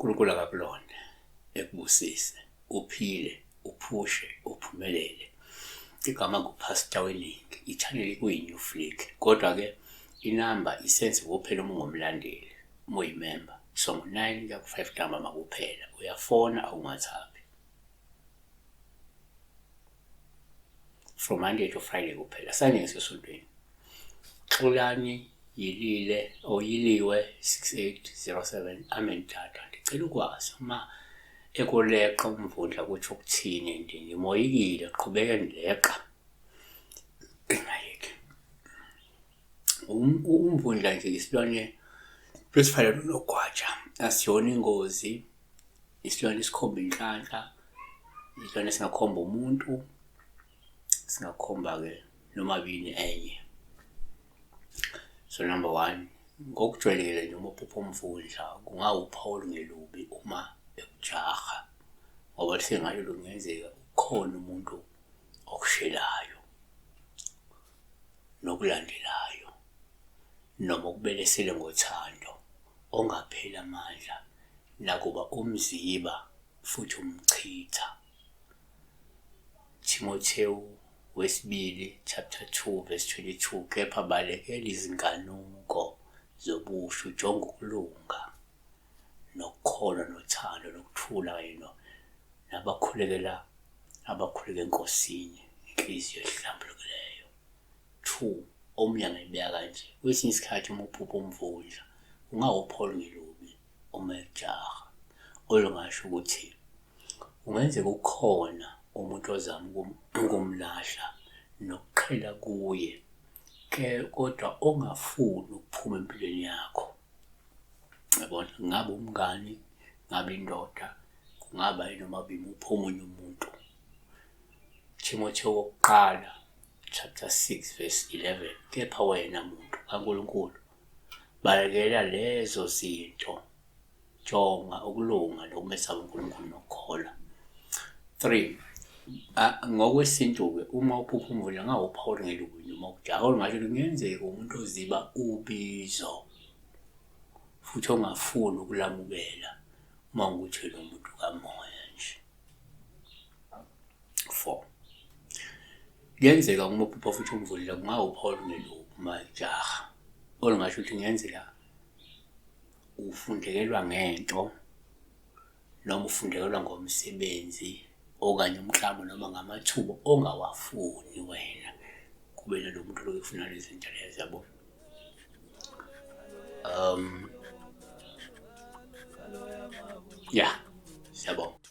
uNkulunkulu akakulonde ekubusise uphile uphushe uphumelele igama ngupastor weningi i-channel kuyi-new flick kodwa-ke inamba isenze kuphela uma ungomlandeli uma uyimemba songo 9 kuya ku-5 ntambama kuphela uyafona awungathaphi from monday to friday kuphela sanye ngisesontweni xolani yilile oyiliwe 6807 amen tata ndicela ukwazi uma ekuleqa umvundla kuthi ukuthini ndi ngimoyikile qhubeke ndileqa Um, umvundla nje isilwane sesifana nonogwaja asiyona ingozi isilwane esikhomba inhlanhla isilwane singakhomba umuntu singakhomba-ke nomabini enye so number one ngokujwayelekile nje uma uphupha umvundla kungawuphawu olungelubi uma ekujaha ngoba lisengalo lungenzeka ukhona umuntu okushelayo nokulandelayo, noma ukubelesele ngothando ongapheli amandla, nakuba umziba futhi umchitha. Timothewu wesibili chapter 2 verse 22 kepha balekela izinkanuko zobusha ujonga ukulunga nokholo nothando nokuthula kayino nabakhulekela abakhuleka enkosini inhliziyo ehlambulukileyo two omunye angayibeka kanje kwesinye isikhathi uma uphupha umvundla ungawupholi ngelubi uma ejaha olungasho ukuthi kungenzeka ukhona umuntu ozama ukumlahla nokuqhela kuye ke kodwa ongafuni ukuphuma empilweni yakho yabona ngabe umngani ngabe indoda kungaba yinoma bimi uphuma omunye umuntu Timotheo wokuqala chapter 6 verse 11 kepha wena muntu kaNkulunkulu balekela lezo zinto Jonga ukulunga nokumesaba uNkulunkulu nokukholwa. 3. Ngokwesintu-ke uma uphupha umvula ngawuphawu olungelukwini uma ukujaka olungasho ukuthi kungenzeka umuntu oziba ubizo futhi ongafuni ukulamukela uma ukuthi lo muntu kamoya nje. 4. Kuyenzeka uma uphupha futhi umvulile kungawuphawu olungelubi uma ejaha olungasho ukuthi kungenzeka ufundekelwa ngento noma ufundekelwa ngomsebenzi okanye umklamo noma ngamathuba ongawafuni wena kube nalo muntu loyo ufuna lezi zinto lezo yabo um ya yeah. siyabonga